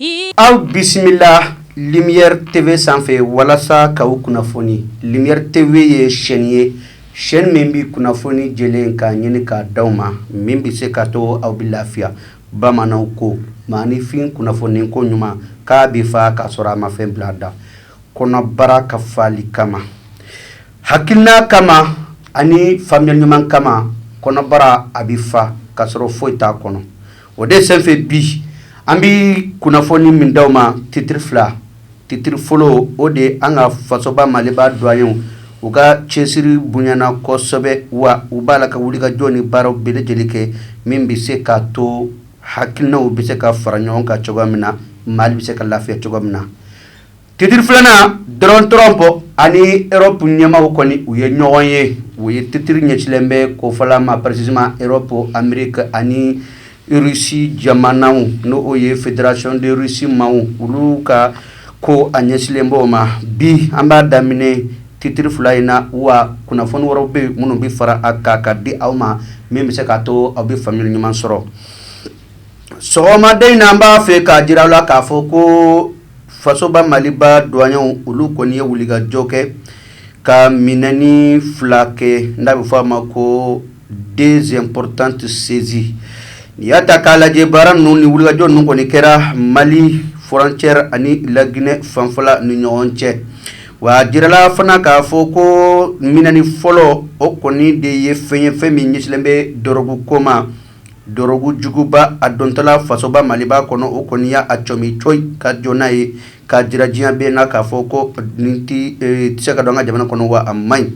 Ee aw bisimila Lumière TV sanfɛ walasa k'aw kunnafoni Lumière TV ye chaîne ye chaîne min bɛ kunnafoni jɛlen ka ɲini k'a d'aw ma min bɛ se k'a to aw bɛ lafiya bamananw ko maaninfin kunnafoni ko ɲuman k'a bɛ fa k'a sɔrɔ a ma fɛn bila a da kɔnɔbara ka fali kama hakilina kama ani faamuyali ɲuman kama kɔnɔbara a bɛ fa k'a sɔrɔ foyi t'a kɔnɔ o de senfɛ bi an bɛ kunnafoni min di aw ma titiri fila titiri fɔlɔ o de an ka fasoba maliba douaniers u ka cɛsiri bonyana kosɛbɛ wa u b'a la ka wulikajɔ ni baaraw bɛɛ lajɛlen kɛ min bɛ se k'a to hakilinaw bɛ se ka fara ɲɔgɔn kan cogoya min na mali bɛ se ka lafiya cogoya min na Titiri filanan Donald Trump ani Europe ɲɛmaaw kɔni u ye ɲɔgɔn ye u ye titiri ɲɛsinlen bɛ ko fila ma précisément Europe Amérique ani Russie jamanaw n'o ye fédération de Russie maaw olu ka ko a ɲɛsinlen b'o ma bi an b'a daminɛ titiri fila in na wa kunnafoni wɛrɛw bɛ minnu bɛ fara a kan ka di aw ma min bɛ se k'a to aw bɛ faamuyali ɲuman sɔrɔ sɔgɔmaden in na an b'a fɛ k'a jira aw la k'a fɔ ko fasoba maliba douaniers olu kɔni ye wulikajɔ kɛ ka minɛni fila kɛ n'a bɛ fɔ a ma ko deux importantes saisies n'i y'a ta k'a lajɛ baara ninnu ni wulikajɔ ninnu kɔni kɛra mali frontière ani laginɛ fanfɛla ni ɲɔgɔn cɛ wa jirala fana k'a fɔ ko minɛni fɔlɔ o kɔni de ye fɛn ye fɛn min ɲɛsinlen bɛ dɔrɔgu ko ma dɔrɔgu juguba a dontɔla fasoba maliba kɔnɔ o kɔni y'a a cɔmi cogo ka jɔ n'a ye ka jira diɲɛ bɛɛ na k'a fɔ ko nin tɛ se ka don an ka jamana kɔnɔ wa a man ɲi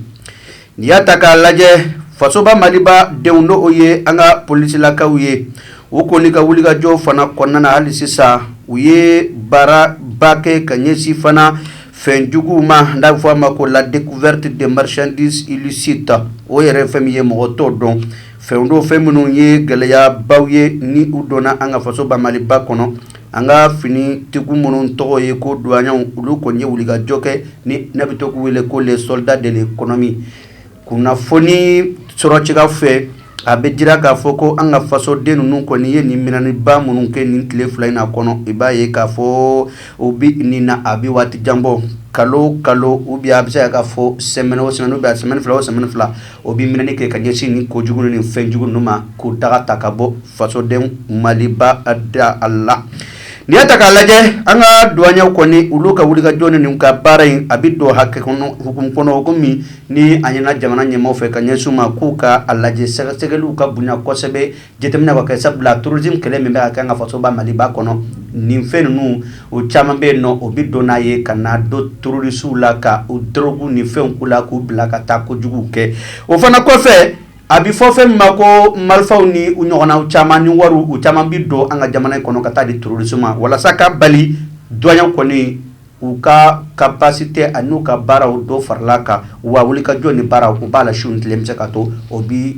n'i y'a ta k'a lajɛ fasoba maliba denw n'o ye an ka polisilakaw ye u kɔni ka wulikajɔ fana kɔnɔna na hali sisan u ye baaraba kɛ ka ɲɛsin fana fɛnjuguw ma n'a bɛ fɔ a ma ko la découverte des marchandises illicites o yɛrɛ fɛn min ye mɔgɔ t'o dɔn Fɛn don fɛn minnu ye gɛlɛyabaw ye ni u donna an ka fasoba maliba kɔnɔ an ka finitigi minnu tɔgɔ ye ko douaniers olu kɔni ye wulikajɔ kɛ ni ne bɛ to k'u wele ko les soldats de l'économie kunnafoni sɔrɔcogo fɛ a bɛ jira k'a fɔ ko an ka fasoden ninnu kɔni ye nin minɛniba minnu kɛ nin tile fila in na kɔnɔ i b'a ye k'a fɔ u bɛ nin na a bɛ waati jan bɔ kalo kalo ou bien a bɛ se k'a fɔ semaine o semaine ou bien semaine fila o semaine fila O bɛ minɛni kɛ ka ɲɛsin nin kojugu ni fɛn jugu ninnu ma k'u daga ta ka bɔ fasodenw maliba da a la n'i y'a ta k'a lajɛ an ka douaniers kɔni olu ka wulikajɔ nin n'u ka baara in a bɛ don hakɛ kɔnɔ hukumu kɔnɔ komi ni a ɲɛna jamana ɲɛmaaw fɛ ka ɲɛsin u ma k'u ka a lajɛ sɛgɛsɛgɛliw ka bonya kosɛbɛ Jateminɛ ka kɛ sabula terrorisme kɛlɛ min bɛ ka kɛ an ka fasoba maliba kɔnɔ nin fɛn ninnu o caman bɛ yen nɔ o bɛ don n'a ye ka na don terorisiw la ka u drogue ni fɛnw k'u la k'u bila ka taa ko jugu kɛ o fana kɔfɛ a bɛ fɔ fɛn min ma ko marifaw ni u ɲɔgɔnna caman ni wariw u caman bɛ don an ka jamana in kɔnɔ ka taa di terorisi ma walasa ka bali douaniers kɔni U ka capacité ani u ka baaraw dɔ farala kan wa wulikajɔ ni baaraw u b'a la su ni tile bɛ se ka to o bi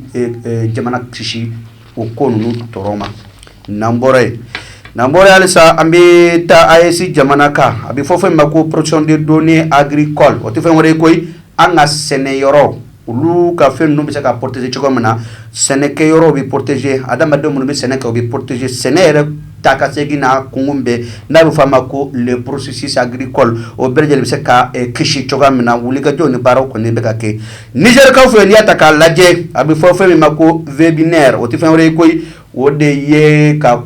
jamana kisi o ko ninnu tɔɔrɔ ma n'an bɔra yen n'an bɔra halisa an bɛ taa AES jamana kan a bɛ fɔ fɛn ma ko protection des données agricoles o tɛ fɛn wɛrɛ ye koyi an ka sɛnɛ yɔrɔ olu ka fɛn ninnu bɛ se ka protéger cogo min na sɛnɛkɛyɔrɔ bɛ protéger adamadenw minnu bɛ sɛnɛ kɛ u bɛ protéger sɛnɛ yɛrɛ taa ka segin na kunun bɛɛ n'a bɛ f'a ma ko le processus agricole o bɛɛ lajɛlen bɛ se ka kisi cogoya min na wulikajɔ ni baara kɔni bɛ ka kɛ Nizɛrikaw fɛ n'i y'a ta k'a lajɛ a bɛ fɔ fɛn min ma ko webinaire o tɛ fɛn wɛrɛ ye koyi o de ye ka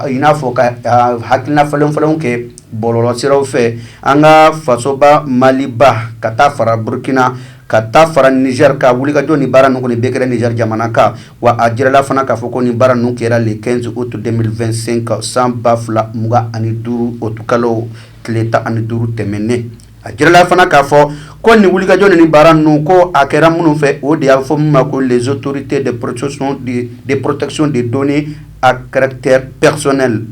i n'a fɔ ka hakilina falenfalen kɛ bɔlɔlɔsiraw fɛ an ka fasoba Maliba ka taa fara Burukina ka taa fara Nizɛri ka wulikajɔ ni baara ninnu kɔni bɛɛ kɛra Nizɛri jamana kan wa a jirala fana k'a fɔ ko nin baara ninnu kɛra le 15 août 2025 san 2025 utikalo tile tan ani duuru tɛmɛnen. a jirala fana k'a fɔ ko nin wulikajɔ ni baara ninnu ko a kɛra minnu fɛ o de y'a fɔ min ma ko les autorités de protection des données à caractère personnel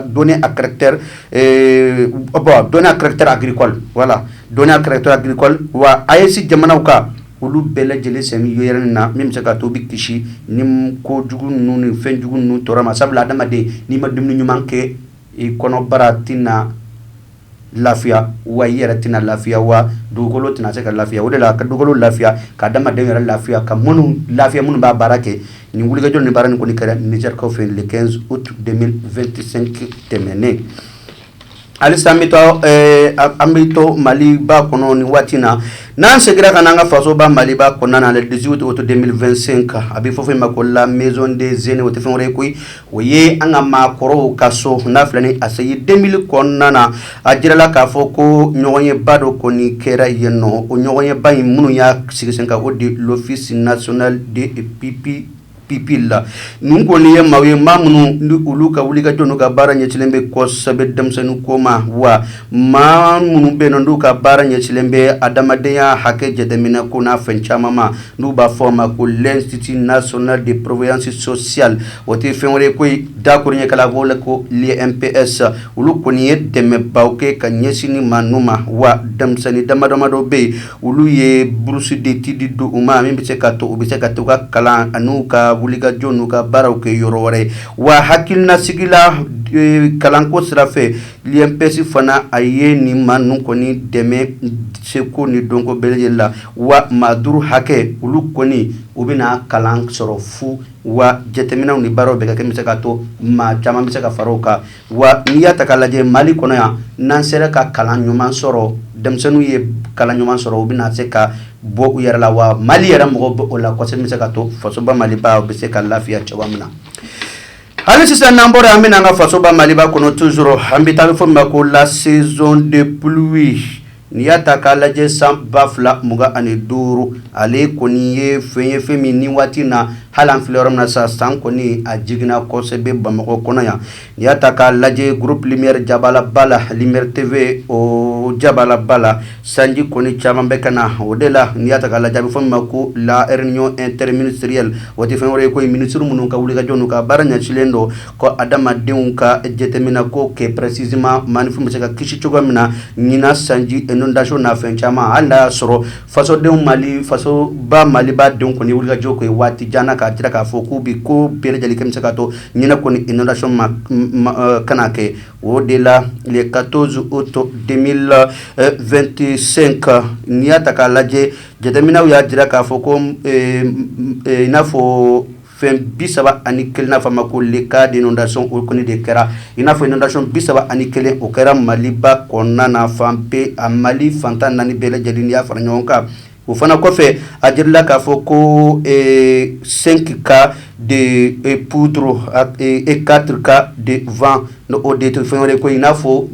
données à caractère bon données à caractère agricole voilà données à caractère agricole wa AES jamanaw ka olu bɛɛ lajɛlen sɛmi yɛrɛ na min bɛ se ka to bɛ kisi ni ko jugu ninnu ni fɛn jugu ninnu tɔɔrɔ ma sabula adamaden n'i ma dumuni ɲuman kɛ i kɔnɔbara tɛna lafiya wa i yɛrɛ tɛna lafiya wa dugukolo tɛna se ka lafiya o de la ka dugukolo lafiya ka adamaden yɛrɛ lafiya ka minnu lafiya minnu b'a baara kɛ nin wulikajɔ ni baara nin kɔni kɛra Nizɛrikaw fɛ yen le 15 août 2025 tɛmɛnen halisa an bɛ taa an bɛ to maliba kɔnɔ nin waati na n'an seginna ka na an ka fasoba maliba kɔnɔna na le 18 août 2025 a bɛ fɔ fɛn ma ko la maison des aînés o tɛ fɛn wɛrɛ ye koyi o ye an ka maakɔrɔw ka so n'a filɛ ni ACI 2000 kɔnɔna na a jirala k'a fɔ ko ɲɔgɔnyeba dɔ kɔni kɛra yen nɔ o ɲɔgɔnyeba in minnu y'a sigi sen kan o de l'Office national des pupilles la nin kɔni ye maaw ye maa minnu ni olu ka wulikajɔ n'u ka baara ɲɛsinnen bɛ kosɛbɛ denmisɛnnin ko ma wa maa minnu bɛ yen n'u ka baara ɲɛsilen bɛ adamadenya hakɛ jateminɛ ko n'a fɛn caman ma n'u b'a fɔ a ma ko l'Institut national de prévoyance sociale o tɛ fɛn wɛrɛ ko dakoro ɲɛkala b'o la ko l'INPS olu kɔni ye dɛmɛba kɛ ka ɲɛsin nin maa ninnu ma wa denmisɛnnin damadama dɔ bɛ yen olu ye bourse d'études di u ma min bɛ se ka to u bɛ se ka to ka kalan an'u ka wulikajɔ n'u ka baaraw kɛ yɔrɔ wɛrɛ ye wa hakilinasigi la kalanko sira l'INPS fana a ye nin maa ninnu kɔni dɛmɛ seko ni dɔnko bɛɛ lajɛlen la wa maa duuru hakɛ olu kɔni u bɛna kalan sɔrɔ fu wa jateminɛw ni baaraw bɛ ka kɛ bɛ se ka to maa caman bɛ se ka fara u kan wa n'i y'a ta k'a lajɛ mali kɔnɔ yan n'an sera ka kalan ɲuman sɔrɔ denmisɛnninw ye kalan ɲuman sɔrɔ u bɛna se ka bɔ u yɛrɛ la wa mali yɛrɛ mago b'o la kosɛbɛ bɛ se ka to fasoba maliba bɛ se ka lafiya cogoya min na Hali sisan n'an bɔra an bɛna an ka fasoba Maliba kɔnɔ toujours an bɛ taa bɛ fɔ min ma ko la saison de pluie n'i y'a ta k'a lajɛ san 2025 ale kɔni ye fɛn ye fɛn min ni waati in na hali an filɛ yɔrɔ min na sa san kɔni a jiginna kosɛbɛ Bamakɔ kɔnɔ yan n'i y'a ta k'a lajɛ groupe lumière jabaala ba la lumière TV o jabaala ba la Sanji kɔni caman bɛ ka na o de la n'i y'a ta k'a lajɛ a bɛ fɔ min ma ko la réunion interministérielle o tɛ fɛn wɛrɛ ye ko minisiri minnu ka wulikajɔ n'u ka baara ɲɛsilen don ko adamadenw ka jateminɛ ko kɛ précisément maafin bɛ se ka kisi cogoya min na ɲinan sanji inondation n'a fɛn caman hali n'a y'a sɔrɔ fasodenw mali fasoba maliba denw kɔni wulikajɔ kɔnɔ ye waati jan k'a jira k'a fɔ k'u bɛ ko bɛɛ lajɛlen kɛ bɛ se ka to ɲinan kɔni inondation kana kɛ o de la le quatorze août deux mille vingt-cinq n'i y'a ta k'a lajɛ jateminɛw y'a jira k'a fɔ ko i n'a fɔ fɛn bi saba ani kelen n'a fɔ a ma ko le cas d'inondation o kɔni de kɛra i n'a fɔ inondation bi saba ani kelen o kɛra maliba kɔnɔna na fan bɛɛ a mali fantan naani bɛɛ lajɛlen n'i y'a fara ɲɔgɔn kan o fana kɔfɛ a jirala k'a fɔ ko cinq cas de poudre et quatre cas de vent n'o de tɛ fɛn wɛrɛ ko i n'a fɔ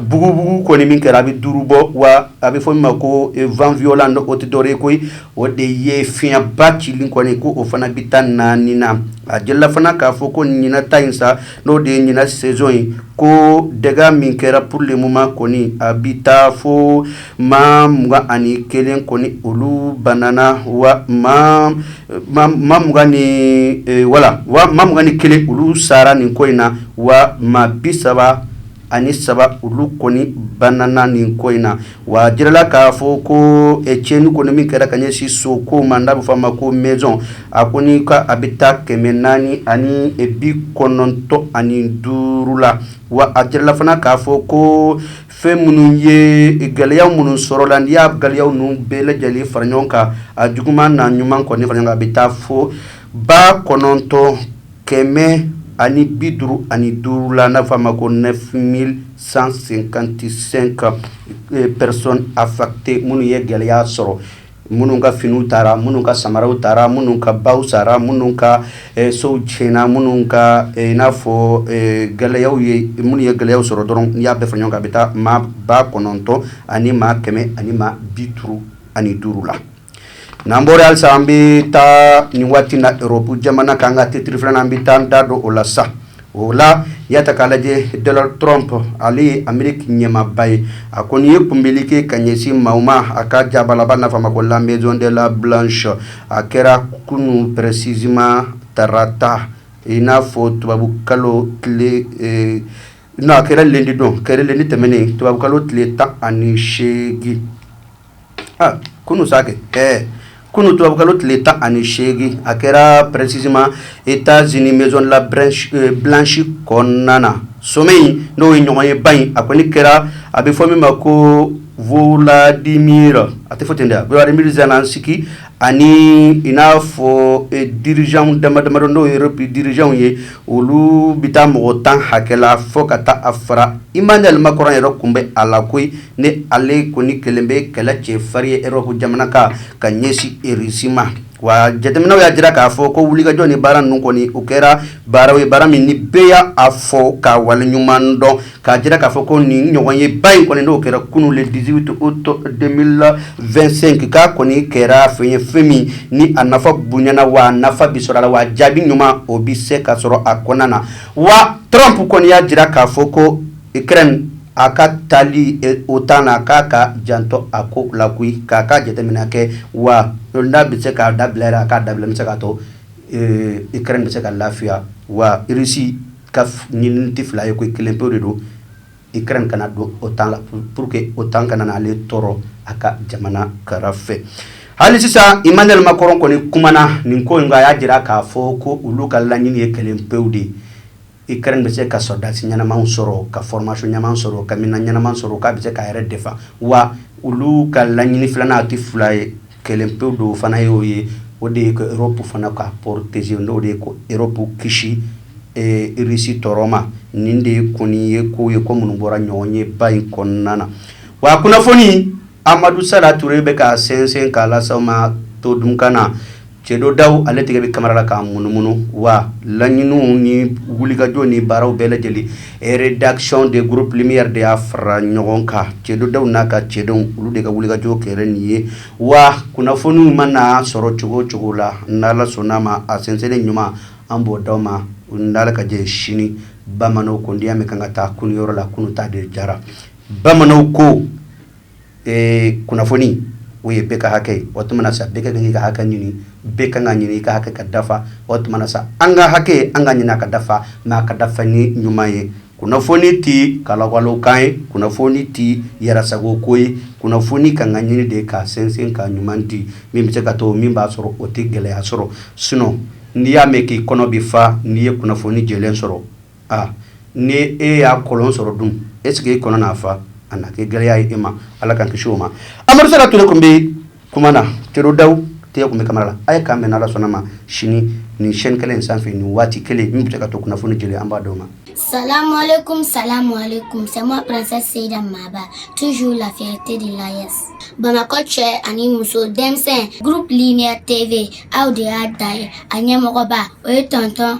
bugubugu kɔni min kɛra a bɛ duuru bɔ wa a bɛ fɔ min ma ko vent violent n'o tɛ dɔwɛrɛ ko o de ye fiɲɛba cili kɔni ko o fana bɛ taa naani na a jirala fana k'a fɔ ko ɲinan ta in sa n'o de ye ɲinan saison ye ko dégâts min kɛra pour le moment kɔni a bɛ taa fo maa mugan ani kelen kɔni olu banana wa maa mugan ni kelen olu sara nin ko in na wa maa bi saba ani saba olu kɔni banana nin ko in na wa a jirala k'a fɔ ko tiɲɛni kɔni min kɛra ka ɲɛsin so ko ma n'a bɛ fɔ a ma ko maison a kɔni ka a bɛ taa kɛmɛ naani ani bi kɔnɔntɔn ani duuru la wa a jirala fana k'a fɔ ko fɛn minnu ye gɛlɛya minnu sɔrɔla n'i y'a gɛlɛyaw ninnu bɛɛ lajɛlen fara ɲɔgɔn kan a juguman n'a ɲuman kɔni fara ɲɔgɔn kan a bɛ taa fo ba kɔnɔntɔn kɛmɛ ani bi duuru ani duuru la n'a fɔ a ma ko neuf mille cent cinquante-cinq personnes affectées minnu ye gɛlɛya sɔrɔ minnu ka finiw taara minnu ka samaraw taara minnu ka baw sara minnu ka sow tiɲɛna minnu ka i n'a fɔ gɛlɛya ye minnu ye gɛlɛya sɔrɔ dɔrɔn y'a bɛɛ fara ɲɔgɔn kan a bɛ taa maa ba kɔnɔntɔn ani maa kɛmɛ ani maa bi duuru ani duuru la n'an bɔra halisa an bɛ taa nin waati na Europe jamana kan ka titiri filanan an bɛ taa da don o la sa o la i y'a ta k'a lajɛ Donald Trump ale ye Amérique ɲɛmaaba ye a kɔni ye kunbɛli kɛ ka ɲɛsin maaw ma a ka jabalaba n'a fɔ a ma ko la maison de la blanche a kɛra kunun précisément tarata i n'a fɔ tubabukalo tile eh, non a kɛra lundi don kɛra lundi tɛmɛnen tubabukalo tile tan ani seegin kunun sa kɛ ɛɛ kunun tubabukalo tile tan ani seegin a kɛra précisément États-Unis maison la blanche kɔnɔna na sommet n'o ye ɲɔgɔnyeba in a kɔni kɛra a bɛ fɔ min ma ko Vladimir a tɛ fɔ ten dɛ Volodymyr Zelensky ani i n'a fɔ dirigeants dama damadɔ n'o ye Europe dirigeants ye olu bɛ taa mɔgɔ tan hakɛ la fo ka taa a fara Emmanuel Macron yɛrɛ kun bɛ a la koyi ni ale kɔni kɛlen bɛ kɛlɛcɛ farin ye Europe jamana kan ka ɲɛsin Russie ma wa jateminɛw y'a jira k'a fɔ ko wulikajɔ ni baara ninnu kɔni o kɛra baaraw ye baara min ni bɛɛ y'a fo k'a waleɲuman dɔn k'a jira k'a fɔ ko nin ɲɔgɔnyeba in kɔni n'o kɛra kunun le 18 août 2025 k'a kɔni kɛra fɛn ye fɛn min ni a nafa bonyana wa nafa bi sɔrɔ a la wa jaabi ɲuman o bi se ka sɔrɔ a kɔnɔna na wa Trump kɔni y'a jira k'a fɔ ko Ukraine a ka taali eh, OTAN na k'a ka janto a ko la koyi k'a ka jateminɛ kɛ wa n'a bɛ se k'a dabila yɛrɛ a k'a dabila n bɛ se k'a to eh, Ukraine bɛ se ka lafiya wa Russie Ka ɲinini tɛ fila ye ko kelen pe de don Ukraine kana don OTAN la pour que OTAN kana na ale tɔɔrɔ a ka jamana kɛrɛfɛ hali sisan Emmanuel Macron kɔni kumana nin ko in kan a y'a jira k'a fɔ ko olu ka laɲini ye kelen pewu de ye Ukraine bɛ se ka sɔrɔdasi ɲɛnaman sɔrɔ ka formation ɲuman sɔrɔ ka minɛn ɲɛnaman sɔrɔ k'a bɛ se k'a yɛrɛ défend wa olu ka laɲini filanan a tɛ fila ye Kelen pe don o fana y'o ye o de ye ko Europe fana ka protéger n'o de ye ka Europe kisi Russie tɔɔrɔ ma nin de kɔni ye ko ye ko minnu bɔra ɲɔgɔnyeba in kɔnɔna na wa a kunnafoni Amadou Sala Touré bɛ k'a sɛnsɛn k'a lase aw ma to dunkan na Cɛdo Daw ale tɛgɛ bɛ kamera la k'a munumunu wa laɲini ni wulikajɔ ni baaraw bɛɛ lajɛlen Rédaction de groupe Lumière de y'a fara ɲɔgɔn kan Cɛdo Daw n'a ka cɛdenw olu de ka wulikajɔ kɛra nin ye wa kunnafoniw mana sɔrɔ cogo o cogo la n'Ala sɔnna a ma a sɛnsɛnnen ɲuman an b'o di aw ma n'Ala ka jɛ sini bamananw ko n'i y'a mɛn k'an ka taa kunun yɔrɔ la kunun ta de jara bamananw ko ee kunnafoni o ye bɛɛ ka hakɛ ye o tuma sa bɛɛ ka kan k'i ka hakɛ ɲini bɛɛ ka kan k'a ɲini i ka hakɛ ka dafa o tuma sa an ka hakɛ an k'a ɲini a ka dafa mais a ka dafa ni ɲuman ye kunnafoni tɛ kalawalekan ye kunnafoni tɛ yɛrɛsago ko ye kunnafoni ka kan ka ɲini de ka sɛnsɛn ka ɲuman di min bɛ se ka to min b'a sɔrɔ o tɛ gɛlɛya sɔrɔ sinon n'i y'a mɛn k'i kɔnɔ bɛ fa n'i ye kunnafoni jɛlen sɔrɔ aa ni e y'a kɔlɔn sɔrɔ dun est-ce que e kɔnɔ na fa a na kɛ gɛlɛya ye e ma ala k'an kisi o ma Amadou Sala Touré tun bɛ kuma na Cɛdo Daw tɛgɛ tun bɛ kamera la a ye k'an bɛn n'Ala sɔnna a ma sini nin chaîne kelen in sanfɛ nin waati kelen min bɛ se ka to kunnafoni jɛlen an b'a d'aw ma salam alaikum c'est moi princesse Seyda Maba toujours la fierté de l'AES bamakɔ cɛ ani muso denmisɛnnin groupe Lumière TV aw de y'a da ye a ɲɛmɔgɔba o ye tɔntɔn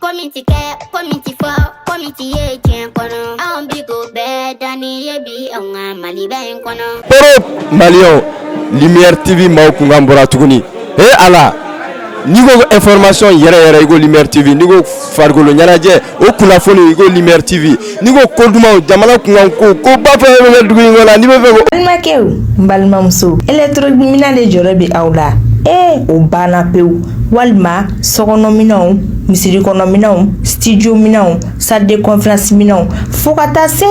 Ko min ti kɛ ko min ti fɔ ko min ti ye diɲɛ kɔnɔ anw bi ko bɛɛ danni ye bi anw ka maliba in kɔnɔ. Koro maliyɛnw Lumière TV maaw kunkan bɔra tuguni he Ala n'i ko information yɛrɛ yɛrɛ i ko Lumière TV n'i ko farikolo ɲɛnajɛ o kunnafoni i ko Lumière TV N'i ko ko dumanw jamana kunkankow koba fɛn o fɛn bɛ kɛ dugu in kɔnɔ ani bɛ fɛ ko. Balimakɛw ni balimamusow elekitoronikiminɛn de jɔrɔ bɛ aw la ee o banna pewu walima sokɔnɔminɛnw misirikɔnɔminɛnw studio minɛnw salle de conférence minɛnw fo ka taa se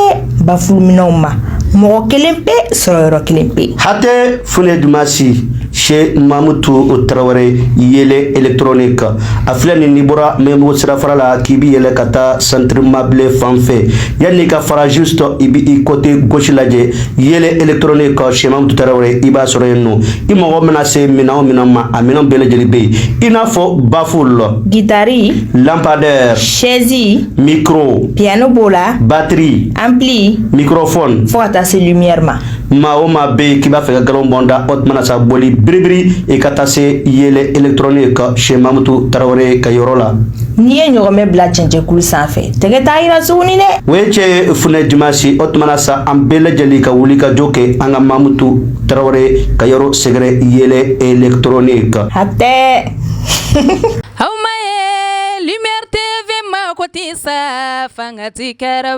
bafuluminɛnw ma mɔgɔ kelen pe sɔrɔ yɔrɔ kelen pe. hatɛ fule dumasi. Sɛ mamu to o tarawele yɛlɛ etrnen kan a filɛ nin ni bɔra mɛbo sira fara la k'i bɛ yɛlɛ ka taa sanrifamabilen fan fɛ yan n'i ka farazo sɔrɔ i bɛ i kɔte gsi lajɛ yɛlɛ etrnen kan sɛma tarawele i b'a sɔrɔ yen nɔ i mɔgɔ bɛna se min o min ma a minɛn bɛɛ lajɛlen bɛ yen i n'a fɔ bafo la gitari lapadɛ sɛɛnsin miro piyɛnɛn b'o la bateri an bilen mikrofɔ fo ka taa se ɲɛri ma maa o maa bɛ yen k'i b'a fɛ ka galon bɔn da o tuma na sa boli biribiri i ka taa se Yeelen électronique chez mamutu tarawele ka yɔrɔ la n'i ye ɲɔgɔnmɛ bila cɛncɛkulu sanfɛ tɛgɛ t'a yira tuguni dɛ o ye cɛ funɛ Dumasi o tuma na sa an bɛɛ lajɛlen ka wuli ka jɔ kɛ an ka mamutu tarawele ka yɔrɔ sɛgɛrɛ Yeelen électronique hatɛ aw ma ye Lumière TV ma ko tɛ sa fanga ti kɛra